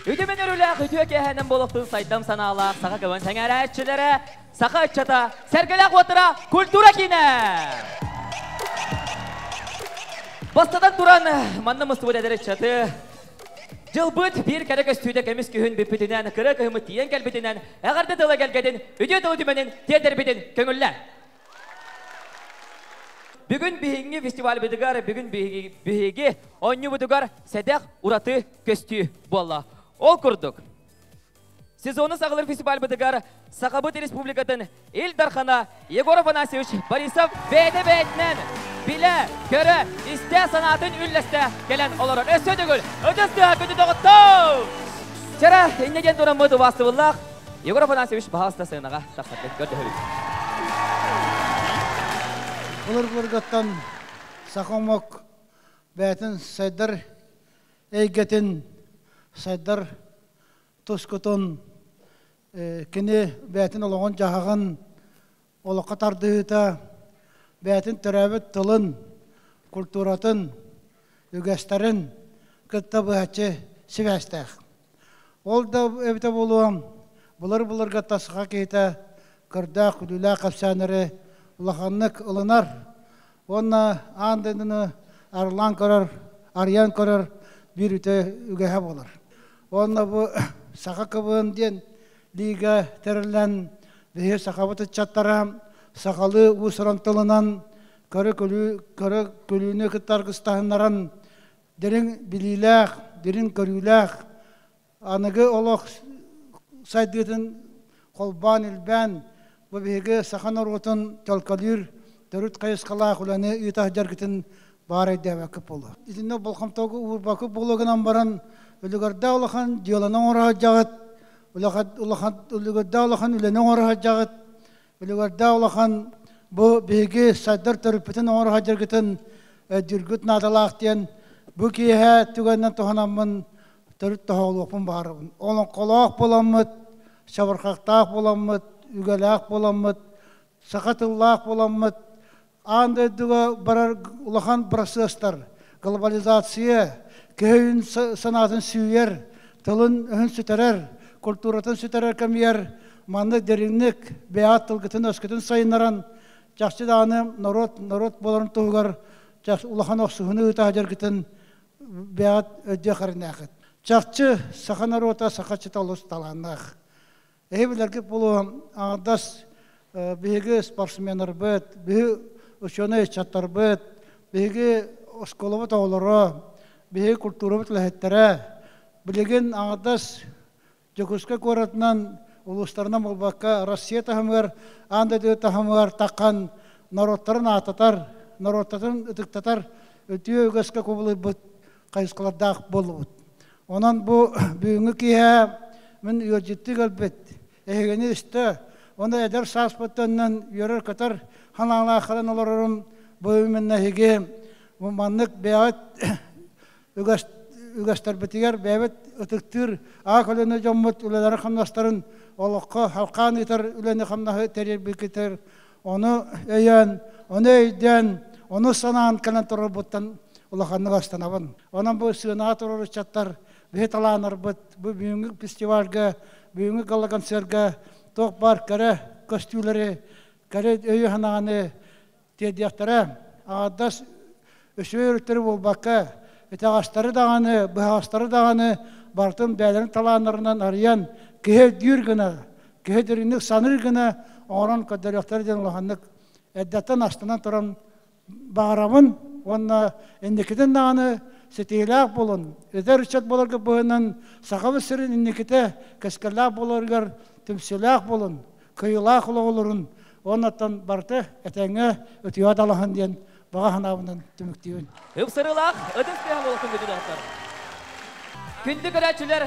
Үтүмэн өрүлээх үтүө киэһэнэн болохтун сайдам санаалаах саха көбөн сэҥээрээччилэрэ, саха ыччата, сэргэлээх уоттара культура киинэ! Бастатан туран, манна мустубут эдэр ыччаты Дьылбыт биир кэрэ көстүүтэ кэмис күһүн бүппүтүнэн, кыра кыһыммыт тиийэн кэлбитинэн, эҕэрдэ тыла кэлгэтин, үтүө тылы түмэнин тиэтэрбитин көҥүллэ. Бүгүн биһиги фестивальбытыгар, бүгүн биһиги, биһиги оонньуубутугар сэдэх ураты көстүү буолла. Ол курдук, Сезону саҕалыыр фестивальбытыгар Сахабыт Республикатын Ил Дархана Егор Афанасьевич Борисов бэйэтэ-бэйэтинэн билэ-көрө, истэ санаатын үллэстэ кэлэн олорор. Өссө төгүл ытыс тыһааппыты доҕоттоо! Чара иннэ диэн тураммыт убаастыбыллаах Егор Афанасьевич баһаалыста сыанаҕа тахсаргыт көрдөһөбүт. Былыргыларгыттан саха омук бэйэтин сайдар эйгэтин сайдар тускутун, кини бэйэтин олоҕун-дьаһаҕын, олоххо тардыһыыта, бэйэтин төрөөбүт тылын, культуратын, үгэстэрин кытта быһаччы сибээстээх. Ол да эбитэ буолуо, булар-буларга тасха киһитэ көрдөөх күлүүлээх кэпсээннэри улаханнык ылынар уонна аан дойдуну арылаан көрөр, арыйан көрөр биир үтө үгэһэ буолар. Уонна бу Саха КБН диэн лиига тэриллэн биһи сахабыт ыччаттара сахалыы уус-уран тылынан көрө күлүү көрө күлүүнү кытта аргыстаһыннаран дириҥ билиилээх, дириҥ көрүүлээх, аныгы олох сайдыытын холбоон-илбээн бу биһиги саха норуотун толколуур төрүт хайысхалаах үлэни ыыта сылдьаргытын баарайдээбэккэ буолуо. Итиннэ болхомтоҕо уурбакы буола гынан баран үлүгэрдэ улахан дьыаланы оҥоро сылдьаҕыт, улахан улахан үлүгэрдэ улахан үлэни оҥоро сылдьаҕыт, Үлүгэрдэ улахан бу биһиги сайдар төрүппүтүн оҥоро садьыргытын өйдүүргүт наадалаах диэн бу киэһэ түгэннэн туһанаммын төрүт тоһоҕолуохпун баарабын. Олоҥхолоох буоламмыт, шабырхахтаах буоламмыт, үгэлээх буоламмыт, саха тыллаах буоламмыт аан дойдуга барар улахан процестар глобализация киһи санаатын сүүйэр тылын-өһүн сүтэрэр культуратын сүтэрэр кэмигэр манна дириҥник бэйэт тылгытын-өскүтүн сайыннаран жакчы дааны норуот норуот болорун туһугар жакш улахан охсуһуну ыта жергитин бэйэт өддө харынахыт жакчы саха норута саха чыта олус таланнах Эһи билэргит булуом, аҥардас биһиги спортсменарбыт, биһи ученый ыччаттарбыт, биһиги оскуолабыт оҕолоро, биһиги культурабыт үлэһиттэрэ, билигин аҥардас Дьокуускай куоратынан, улуустарынан буолбакка, Россия таһымыгар, аан дойду таһымыгар таххан норуоттарын аататар, норуоттарын ытыктатар үтүө үгэскэ кубулуйбут хайысхалардаах буоллубут. Онон бу бүгүҥҥү киэһэ мин ыалдьыттыы көрбүт эһигини үстө оны эдэр сааспыттаннан үөрэр-көтөр ханаалаахтарын олорорум бу үменнэһиги маннык бэйэт үгэстэрбитигэр бэйэбит ытыктыыр аак үлэни дьоммут үлэлери хамнастарын олоххо халхаан ыытар үлэни хамнаһы тэрирбикитер Ону өйөөн, ону өйдөөн, ону санаан кэлэн турарбыттан улаханнык астынабын. Онон бу сыанаҕа турар ыччаттар биһи талааннарбыт бу бүгүҥҥү фестивальга, бүгүҥҥү гала-концерга туох баар кэрэ көстүүлэри, кэрэ өйү-санааны тиэрдиэхтэрэ. Аҥардас үчүгэй өрүттэри буолбакка, итэҕэстэри даҕаны, быһаҕастары даҕаны барытын бэйэлэрин талааннарынан арыйан, киһи өйдүүр гына, киһи дириҥник саныыр гына оҥорон көрдөрүөхтэрэ диэн улаханнык эрдэттэн астынан туран баҕарабын уонна инникитин даҕаны ситиилээх буолун, эдэр ыччат буоларга быһынан Сахабыт сирин инникитэ кэскиллээх буоларыгар түмсүүлээх буолун, кыйылаах олоҕолорун уонна барыта этэҥҥэ үтүө далаһан диэн баҕа санаабынан түмүктүүбүн. Ыпсырыылаах ытык тыаһа буолсын күтүлэхтэр. Күндү көрөөччүлэр,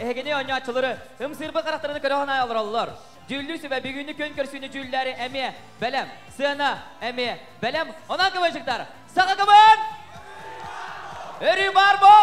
эһигини оонньооччулары ымсыырбыт харахтарыны көрө санаа олороллор. Дьүүллүү сүбэ бүгүҥҥү күн көрсүүнү дьүүллээри эмиэ бэлэм, сыана эмиэ бэлэм. Онон кыбынчыктар, саха кыбын! Өрүү баар боо!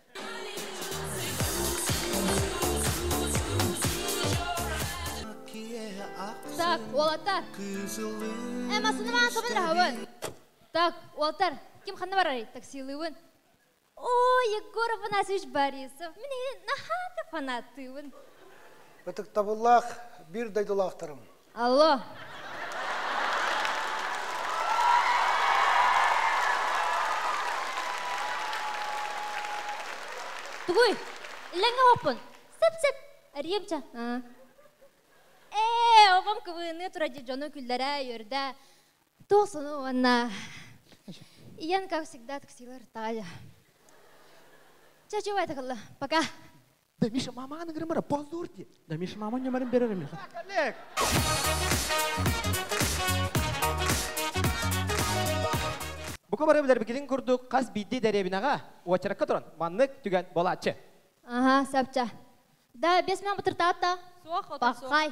Так, уолаттар. Э, массынымаан собын раһабын. Так, уолаттар, ким ханна барарый таксилыыбын? Ой, Егоров Анасович Борисов, мин наһаа да фанаттыыбын. Ытыктабыллаах биир дойдулаахтарым. Алло. Тугуй? Илэҥҥэ оһоппун. Сып-сып. Ариемча. Ээ, оҕом кыбыыныы тура дии дьону күллэрэ, үөрдэ. Туох сону уонна Иэн, как всегда, таксилар тая. Чачу, это кылла. Пока. Да Миша маманы говорим, позор диye. Да Миша маманы говорим берер Миха. Коллег! Бука бары билербикилин курдук хас биирдии дэриэбинэҕэ уочаракка туран маннык түгэн болааччы. Ага, сапча. Да, без меня бутыртата. Суох, отак суох. Пахай.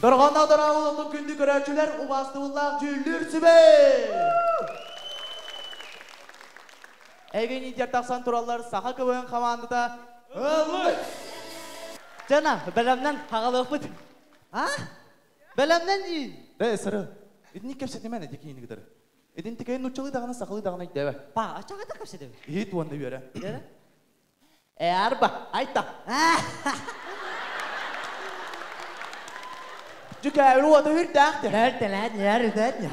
Дорҕонноо дорооболотун күндү көрөөччүлэр убаастыбыллаах дьүүллүүр сүбэ! Эйгэниитер тахсан тураллар саха КВН хамаандата Ылыч! Жана, бэлэмнэн хагалыахпыт. А? Бэлэмнэн дии. Бэ, сыры. Итинник кэпсэтимэн эти киин гыдыр. Итин тикейин нуччалы даҕаны сахалы даҕаны өйдөөбө. Па, ачагата кэпсэтеби. Иһит уонна үөрэ. Үөрэ? Ээ, арба, айта. Дьүкээбир уота үрдээх дэ. Эртэлээн, эртэн.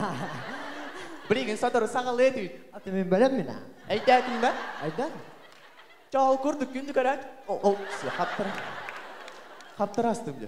Билигин сотору саҕалыа түүт. Аты мин бөлөм мина. Эйдээтин бэ. Айдан. Чаал курдук күндү көрөөт. Ол, сиэ, хаптара. Хаптара астым дэ.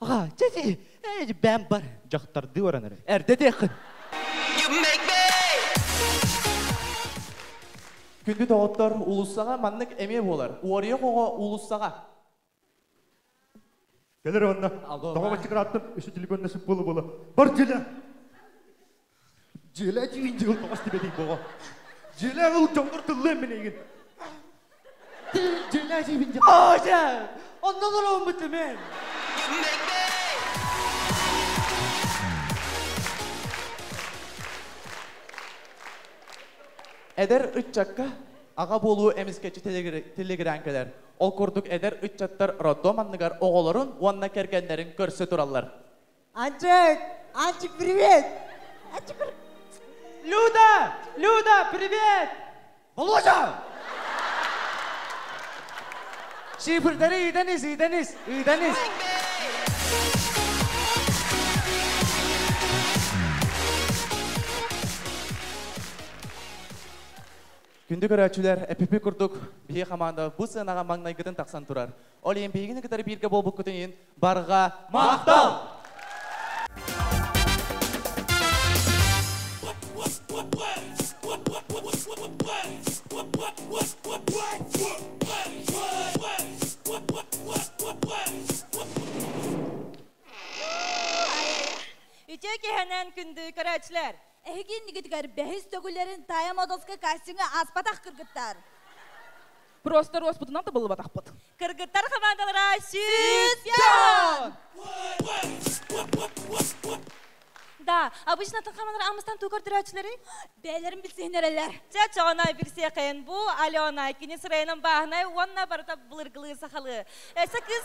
Аҕа, дьэди, элбээн бар. Дьахтардыы баран эрэр. Эрдэ диэххин. Күндү доҕоттор, уулуссаҕа маннык эмиэ буолар. Уоруйах оҕо уулуссаҕа. Кэлэр уонна. Алло, Тоҕо мачыкраттан үс телефонна сыппылы буола? Бар дьиэ! Дьиэлэ дьиин дьыл тоҕос тибэлий боҕо. Дьиэлэ ыл дьоннор тыллыан милигин. Дьиэлэ дьиибин дьыл. Аja! Ondan olmadı men. Эдэр ыччакка аҕа буолуу эмискэчи телегрянкалар. Ол курдук эдэр ыччаттар роддом анныгар оҕолорун уонна кэргэннэрин көрсө тураллар. Анчык! Анчык, привет! Анчык! Люда! Люда, привет! Володя! Şıpırtları idaniz, idaniz, idaniz. Күндү көрөөччүлэр, эпипи курдук, биһи хамаанда бу сыанаҕа маҥнайгытын тахсан турар. Ол иһин биһигини кытары бииргэ буолбуккутун иһин барҕа махтал! Үтүө киһинэн күндү көрөөччүлэр! Эһиги иннигитигэр бэһис төгүллэрин Тая Модовскай кастиҥҥа аспатах кыргыттар. Просто роспутунан табыллыбатахпыт. Кыргыттар хамаандалара сүүс Да, обычно тыңхаманлар амыстан тукар түрөөчүлэри бэйэлэрин билсиһин эрэлэр. Чэ, чоҕонай билсиэхин бу Алена кинис районун бааһынай уонна барыта былыргылыы сахалыы. Эсэ кыз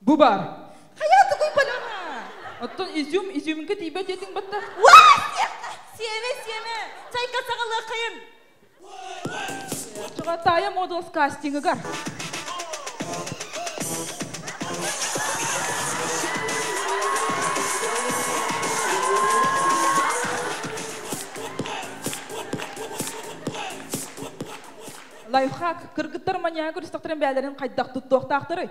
Бу баар. Хайа тугуй балама? Оттон изюм, изюминка тиийбэт диэтиҥ батта. Уа, сиэххэ! Сиэмэ, сиэмэ! Чайка саҕалыаххайын! Оччоҕо таайа модулас кастингыгар. Лайфхак, кыргыттар маньяга көрүстэхтэрин бээлэрин хайдах туттуохтаахтарый?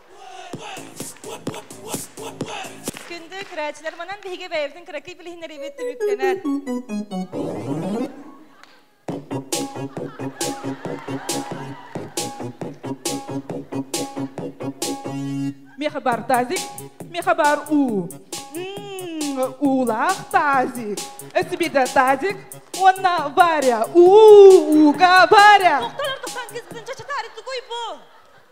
Күндү көрөөччүлэр, манан биһиги бэйэбитин кыракый билиһиннэриибит түмүктэнэр. Ми хабар тазик, ми хабар у. Уулаах тазик. Эсибиде тазик, уонна варя. У, уга варя. Тоқтар 99 чачатар, тугой бу?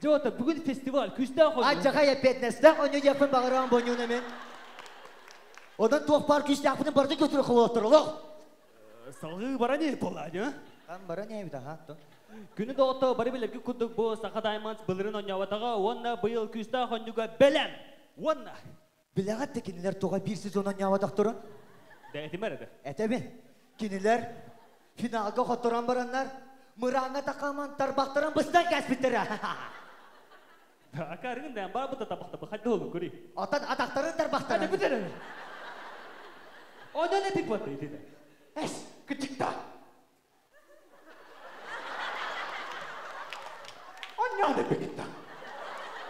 Дьота, бүгүн фестиваль күүстээх ойуун. Адьаҕай эппиэтинэстээх өнүдьэппин баҕарабын бонньууна мен. Одан туох баар күүстээхпитин барыта көтүрэ холоттор олох. Салгыы баран ие болааньа. Хан баран ээбит аха аттан. Күнү доҕото бары билэрги курдук бу Саха Даймонс былырын онньообатаҕа уонна быйыл күүстээх онньуга бэлэм уонна Билэҕит да кинилэр тоҕо биир сезон оонньооботохторун? Да этим эрэ да. Этэбин. Кинилэр финалга хотторон бараннар, мырааҥҥа такааман тарбахтарын быстан кэспиттэрэ. Да, акаарыгын да баабыта табахтаба хадды болун көрүй. Оттон атахтарын тарбахтарын. Этэбин эрэ. Онон этин бата иди да. Эс, кытыкта. Оонньоон эппикитэ.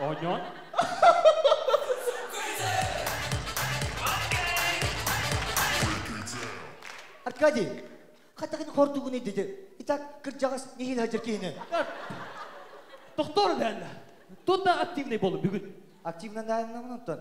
Оонньоон? Аркадий, хатаҕын хордугун идди. Итак, кырдьаҕас нихин хадьыр киһини. Тохтор дээннэ. Тут да активный болу бүгүн. Активно дааннамын оттон.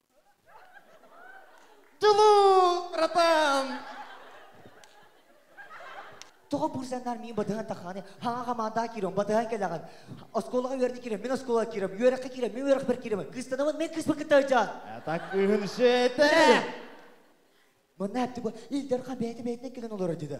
Тылы-ратам! Тоҕо бурзаннар мин батыһан тахааны хаҥа хамаандаҕа киирэн батыһан кэлэҕин оскуолаҕа үөрдэ киирэн мин оскуолаҕа киирэн үөрэххэ киирэн мин үөрэхпэр киирэмин кыыстанамын мен кыыспар кыттар дьаан атак ыһын шете манна әпті бу илдер хан бэйэтэ бэйэтинэн кэлэн олорор деді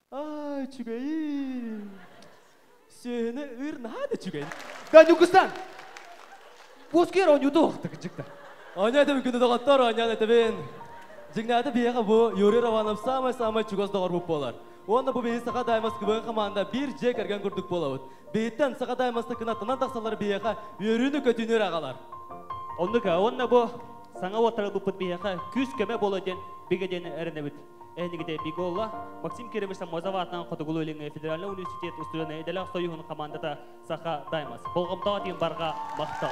Аа, үчүгэй. Сөһүнэ ыр наһаа да үчүгэй. Да Ньукустан! Буускер оонньууту уохтук дьыкта. Оонньоо этэбин күнү доҕоттор оонньоон этэбин. Дьиҥнээтэ биһиэхэ бу Юрий Романов саамай-саамай чугас доҕорбут буолар. Уонна бу биһиги Саха Даймаскыбыын хамаанда биир дьиэ кэргэн курдук буолабыт. Биһиттэн Саха Даймастыкына тынан тахсалар биһиэхэ үөрүүнү-көтүүнү аҕалар. Оннук уонна бу саҥа уоттарга буппут биһиэхэ күүс-көмө буолуо диэн бигэ диэн эрэнэбит. Эһэтигите Биголла, Максим Кирович Самозаватынан Хотугулу Илиҥҥи федеральный университет устудьуона идэлээх союһун командата Саха Даймас. Болҕомтоҕо барга махтал.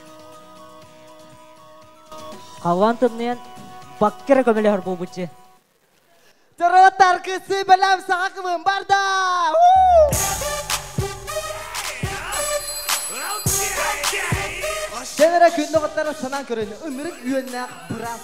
Халлаан тымныйан бакка эрэ көмөлөһөр буолбут дьи. Доротар кысы бэлэм саха кылын барда! Сенера күндө каттара санаан көрөйнө, ымырык үөннээх быраас.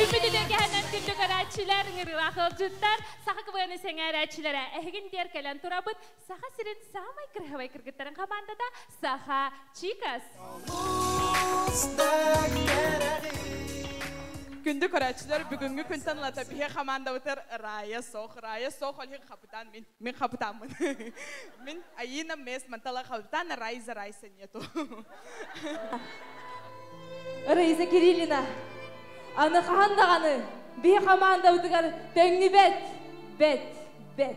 Үрбүт үтүөкэһинэн күндү көрөөччүлэр, ыҥырыылаах ыалдьыттар, саха кыбыаны сэҥээрээччилэрэ, эһигин диэр кэлэн турабыт Саха сирин саамай кыраһабай кыргыттарын хамаандата Саха Чикас. Күндү көрөөччүлэр, бүгүҥҥү күн танылата биһи хамаандабытыр Рая Сох. Рая Сох олиһин хапытаан мин. Мин хапытааммын. мин Аина Мес Мантала хапытаана Райза Райса нету. Райза Кириллина, аны хаһан даҕаны би хамаандабытыгар төҥнү бэт, бэт, бэт.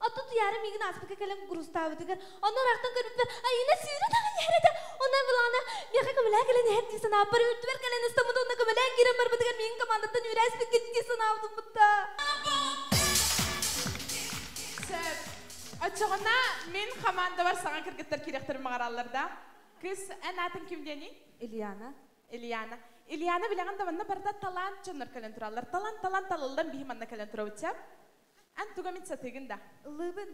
Оттон туйаары миигин ааспыкка кэлэн курустаабытыгар онно ыраахтан көрбүтүбэр Айыына сүүрэн аҕай иһэр этэ. Онон былаана миэхэ көмөлөөн кэлэн иһэр дии санааппар үрдүбэр кэлэн ыстаммыт уонна көмөлөөн киирэн барбытыгар миигин командаттан үүрээспиккит дии санаабыт ылбытта. Сөп. Оччоҕуна мин хамаандабар саҥа кыргыттар кириэхтэрин баҕараллар да. Кыс, эн аатын ким диэний? Ильяна. Ильяна. Ильяна билэҕин да манна барыта талаан дьоннор кэлэн тураллар. Талан талан талыллан биһи манна кэлэн турабыт чэ. Эн туга мин сатыыгын да? Ыллыыбын.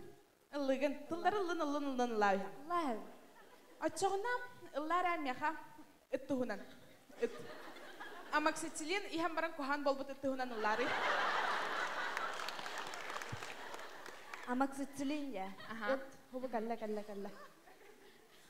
Ыллыыгын. Тыллары ыллын, ыллын, ыллын, ыллаа үһэ. Ыллааһын. Оччоҕуна ыллаар ээ миэхэ ыт туһунан. Ыт. Амоксициллин иһэн баран куһаҕан буолбут ыт туһунан ыллаарый. Амоксициллин дьэ. Аха. Ыт. Хубу кэллэ, кэллэ, кэллэ.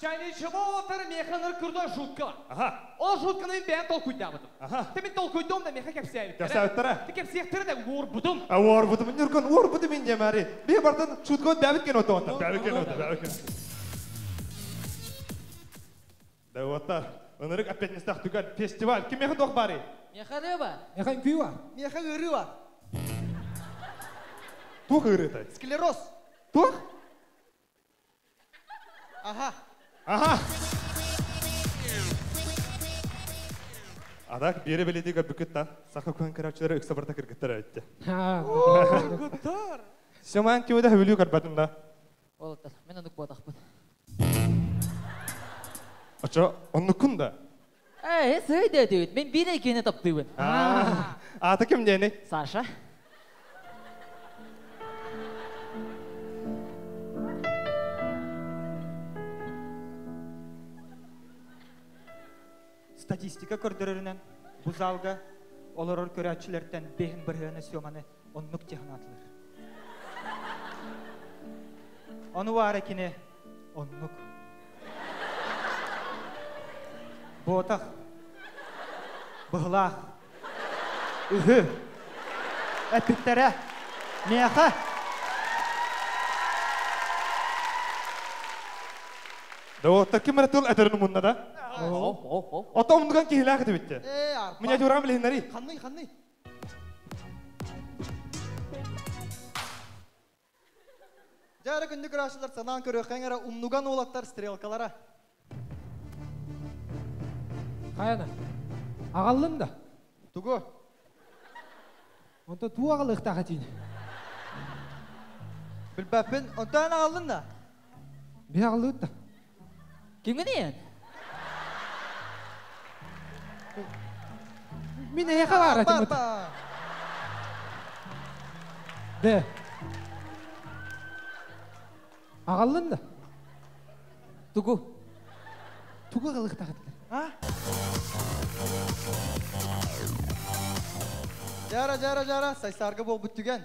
Чайнай чего-отор механар курдук жутко. Ага. Ол жутканы мин бэйэм толкуйдаабытым. Ага. Ты мин толкуйдом да меха кэпсээбиттэрэ. Кэпсээбиттэрэ. Ты кэпсиэхтэрэ да уорбутум. А уорбутум ньурган уорбутум инде мари. Бир бартан шутко бэбит кен отонта. Бэбит кен отонта, бэбит кен. Да вот-та. Онырык опять не стах түгел. Фестиваль. Ким меха дох бары? Меха рыба. Меха кюва. Меха рыба. Тух ырытай? Склероз. Тух? Аха. Аха. Ара биэре бэлиитигэ бүкүттан саха күн көрөөччүлэрэ үксэ барта кыргыттар өттө. Сыман тиуда хүлүү көрбөтүннэ. Ол мен оннук буотахпын. Ача оннуккун да? Эй, сый дэтит, мен биир екене таптыбын. Аа, аата ким диэни? Саша. Статистика көрдөрөрүнэн бу залга олорор көрөөччүлэртэн бэһин бырыһыана Сёманы Оннук дьэ санаатылар. Ону баара кини оннук. Буотах. Быһылаах. Үһү. Эппиттэрэ. Миэхэ. Доҕоттор ким эрэ тыл этэрин умунна да? Ото умнуган киһилээх этэ битте. Миниатюрам билиннэри. Ханный, ханный? Дьэ эрэ күндү көрөөччүлэр санаан көрүөххэҥ эрэ умнуган уолаттар стрелкалара. Хайа да? Агаллын да? Тугу? Онто туу агалыктаах этин. Билбэппин, онтон агаллын да? Би агаллыт да? Кимгиний эн? Мин эһиэхэ баар этим. Да. Агаллын да. Тугу? Тугу кылыктахытылар? А? Жара, жара, жара, сайсарга бол бүттүгэн.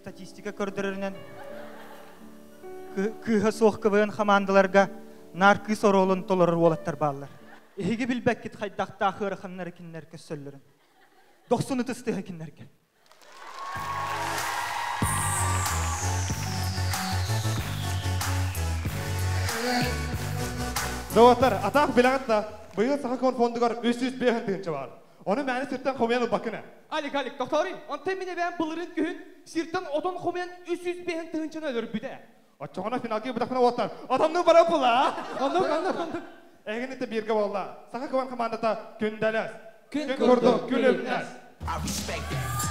Статистика көрдөрөрүнэн кыыһа суох квн хамаандаларга наар кыыс оруолун толорор уолаттар бааллар. Эһиги билбэккит хайдахтаах ыараханнары кинилэр көссөллөрүн. Дохсун ытыс тыһа кинилэргэ. Доҕоттор, атаах билэҕит да, быйыл саха фондугар үс жүз биэһин тыынча баар. Ону мээнэ сиртэн хомуйан ылбаккына. Алик, Алик, тохтоорой. Онтон мин эбээм былырыын күһүн сиртэн отон хомуйан үс жүз биэһин тыһыынчаны өлөрбүтэ. Оччоҕуна финалга бытахпына уоттар отоннуу бара була. Оннук, оннук, оннук. Эһигини это биргэ буолла. Саха кыбан командата күндэлэс. Күн курдук күлүмнэс. I respect that.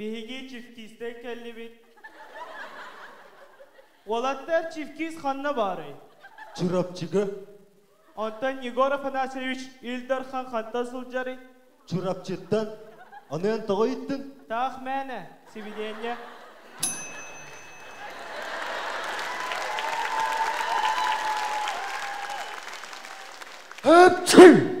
Биһиги чифтиистэр кэллибит. Уолаттар, чифтиис ханна баарый? Чурапчыга. Онтон Егор Афанасьевич Ил Дархан хантан сылдьарый? Чурапчыттан. Аны эн тоҕо ыйыттыҥ? Таах мээнэ, сибидиэнньэ. Апчай!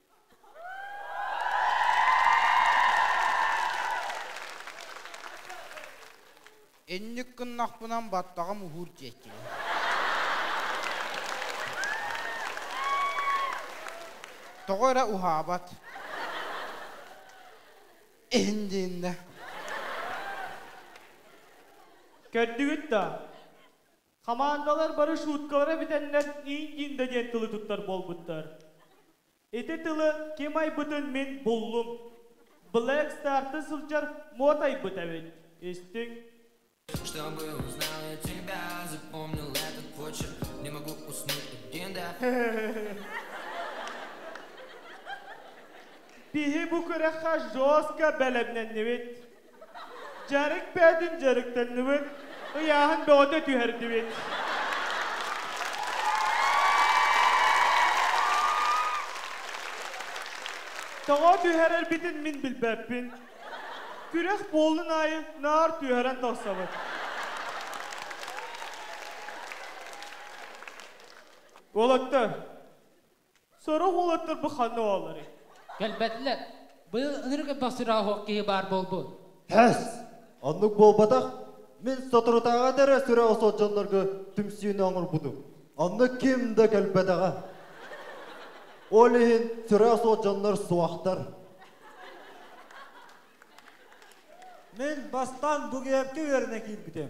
Инник гыннахпынан баттаҕым уһуур диэккинэ. Тоҕо эрэ уһаабат. Иһин дииннэ. Көрдүгүт да? Хамаандалар бары шуткалара бүтэннэр Индинда диэн тылы туттар буолбуттар. Ити тылы ким айбытын мин буллум. Блэк Старты сылдьар мод айбыт эбит. Истиҥ? То, что был, знаю тебя, запомнил этот почерк, не могу уснуть один, да. Киһи бу күрэххэ жестко бэлэмнэннибит. Дьарык бэйэтин дьарыктанныбыт, ыйааһын бөҕөтө түһэрдибит. Тоҕо түһэрэрбитин мин билбэппин. Күрэх буоллун аайы наар түһэрэн тахсабыт. Уолаттар, Сорох уолаттар бу ханна оҕолорой? Кэлбэтилэр. Быйыл ынырык элбэх сүрэ-оһох киһи баар буолбут. Һэс! Оннук буолбатах. Мин соторутааҕыта эрэ сүрэ-осо дьоннорго түмсүүнү оҥорбутум. Онно ким да кэлбэтэҕэ. Ол иһин сүрэ-осо дьоннор суохтар. Мин бастаан Бугуйапка үөрэнэ киирбитим.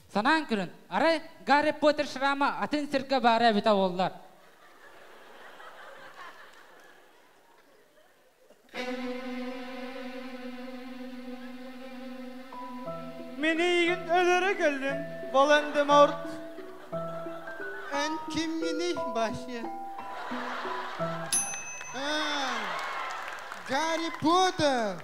Санаан көрөн, арай Гарри Поттер шрама атын сиргэ баара эбитэ буоллар. Минийгин өлөрө келдим, Волан-де-Морт. Эн ким мини башы? Гарри Поттер.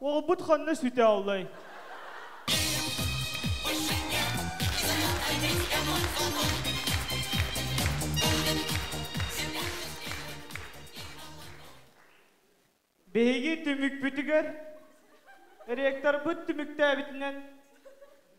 Уолбут ханна сүтэ аллай? Биһиги түмүкпүтүгэр ректорбыт түмүктээбитинэн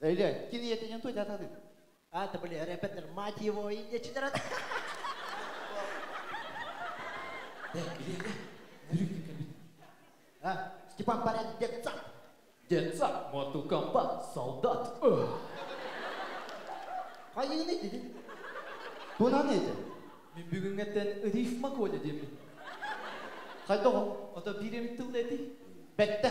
Өлөөн, кини ийэтинэн туйдататын. Ата были репетер, мать его, индечилер. Степан Парень, детсад. Детсад, моту комбат, солдат. Хайын edin. Bu ne neydi? Мен бүгүнгөттөн рифма Коля демин. Хайда o? Ото бирем тыл эти. Бетте.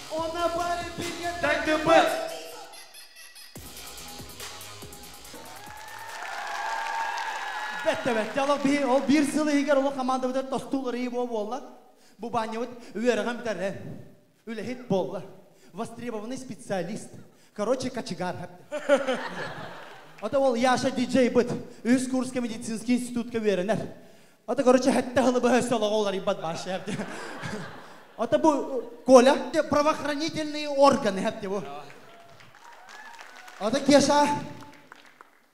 Дайдыпыт! Бэттэбэт. Дьалык биһи ол биир сыл иһигэр олох командабытыгар тостуу ырыйы боо буолла. Бу банньыбыт үөрэҕин бүтэрэ. Үлэһит буолла. Востребованный специалист. Короче, кочегар. Ото ол Яша диджей быт. Үс курска медицинский институтка үөрэнэр. Ото короче хэтте хылы быһа өссө олоҕо уларыйбат баар шеф Ото бу Коля правоохранительный органы хэтте бу. Ото Кеша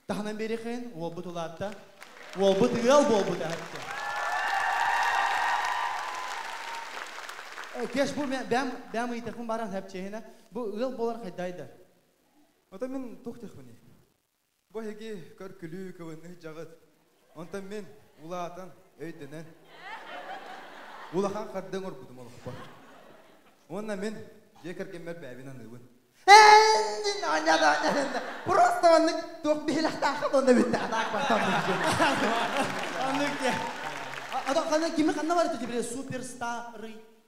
таһынан берехин уолбут улаатта. Уолбут ыал буолбут әһәтте. Кеш бу бәм бәм ыйтахын баран хәпчеһинә бу ыал болар хайдайды. Ото мен тух техмини. Бу эһиги көр-күлүү кылынных дьаҕыт. Онтон мин улаатан, өйдөнөн, улахан харды оҥорбутум олохпор. Уонна мин дьиэ кэргэммэр бэйэбин аныыбын. Просто оннук туох биһилэхтээх онно бүттэ. Аннык диэ. Адам ханна кими ханна барыта дебре суперстарый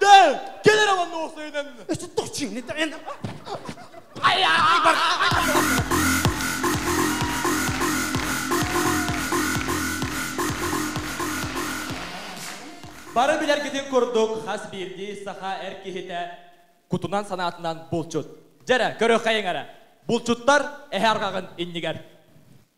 Да, генерал Новосоюден! Что точно? Бары билэргитин курдук, хас биирдии саха эр киһитэ кутунан санаатынан булчут. Дьэрэ, көрүөххэйиҥ эрэ. Булчуттар эһэ арҕаҕын иннигэр.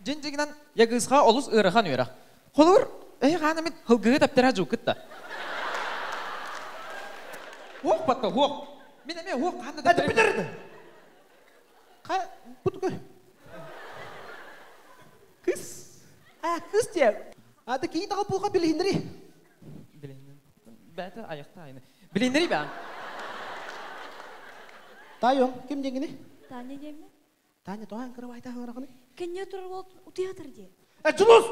Дьиҥ-дьиҥинэн, Ягыысха олус ыарахан үөрэх. Холобур, эһи хаан эмит һылгыһы тэптэрэ дьууккут да? Уох, батта, уох! Мин эмиэ уох хаан да тэптэрэ... Бүтэрдэ! Ха... Бутука... Кыс... А, кыс диэ. Ата киһи таҕа пулха билиһиннери. Билиннин. Бээтэ айахта айны. Билиннери бээн. Тайон, ким диэҥини? Таня диэммин. Таня, тоҕо эн кырабаайта хаҥыраҕыны? Кэнньэ турар уол утуйа атыр дии. Э, Дьулус!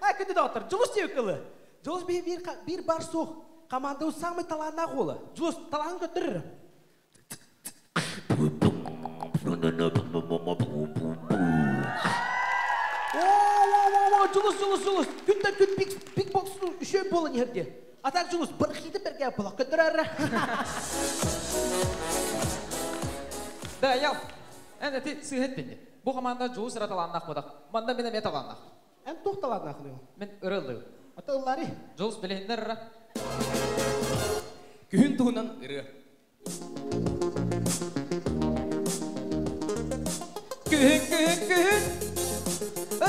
А көннө да отор. Дьулус диэбит кылы. Дьулус биир, биир, биир баар суох. Хамаандабыт самый талааннаах уола. Дьулус, талаанын көрдөрөрө. Дьулус, Дьулус, Дьулус. Күнтэн күн бик боксну үшөй буолан иһер диye. Атаак Дьулус, бырахыытын бэргэ былах көттөрөр. Да, я эн эти сыыһыттинни. Бу хамаанда дьулус ыра талааннаах бадах. Манна мин эмиэ талааннаах. Эн туох талааннаах ылыйыл? Мин ыра ылыйыл. Ата ыллаары. Дьулус билиһиннэр ыра. Күһүн туһунан ырыа. Күһүн, күһүн, күһүн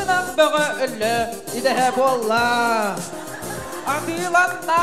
ынах бөҕө өллө идэһэ буолла. Атыыланна!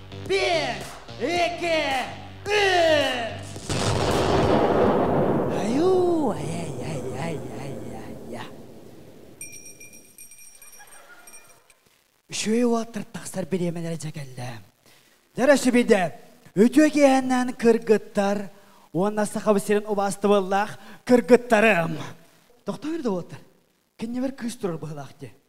Bir, iki, üç. Аю, ай-ай-ай-ай-ай-ай. Үчүгэй уоттар тахсар бириэмэлэрэ дьэкэллэ. Дэрэ сүбиде, үтүө киэһэннэн кыргыттар уонна Сахабы сирин убаастабыллаах кыргыттарым. Тохтойор да уоттар. Кэннибэр кыыс турар быһылаах дии.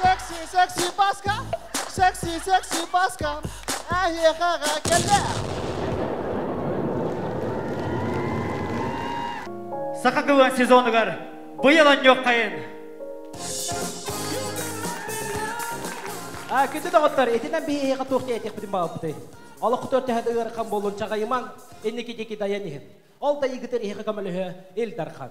Секси, секси Паска, секси, секси Паска, эһиэхэҕэ кэллэ. Саха кыла сезонугар быйыл онньуоххайын. А, күндү доҕоттор, итинэн биһиэхэ туох диэтиэхпитин баҕарбытай? Олохтор тэһэт ыархан буоллун чаҕыйымаҥ, инники диэки дайан иһин. Ол да ийгитин иһиэхэ көмөлөһө Ил Дархан.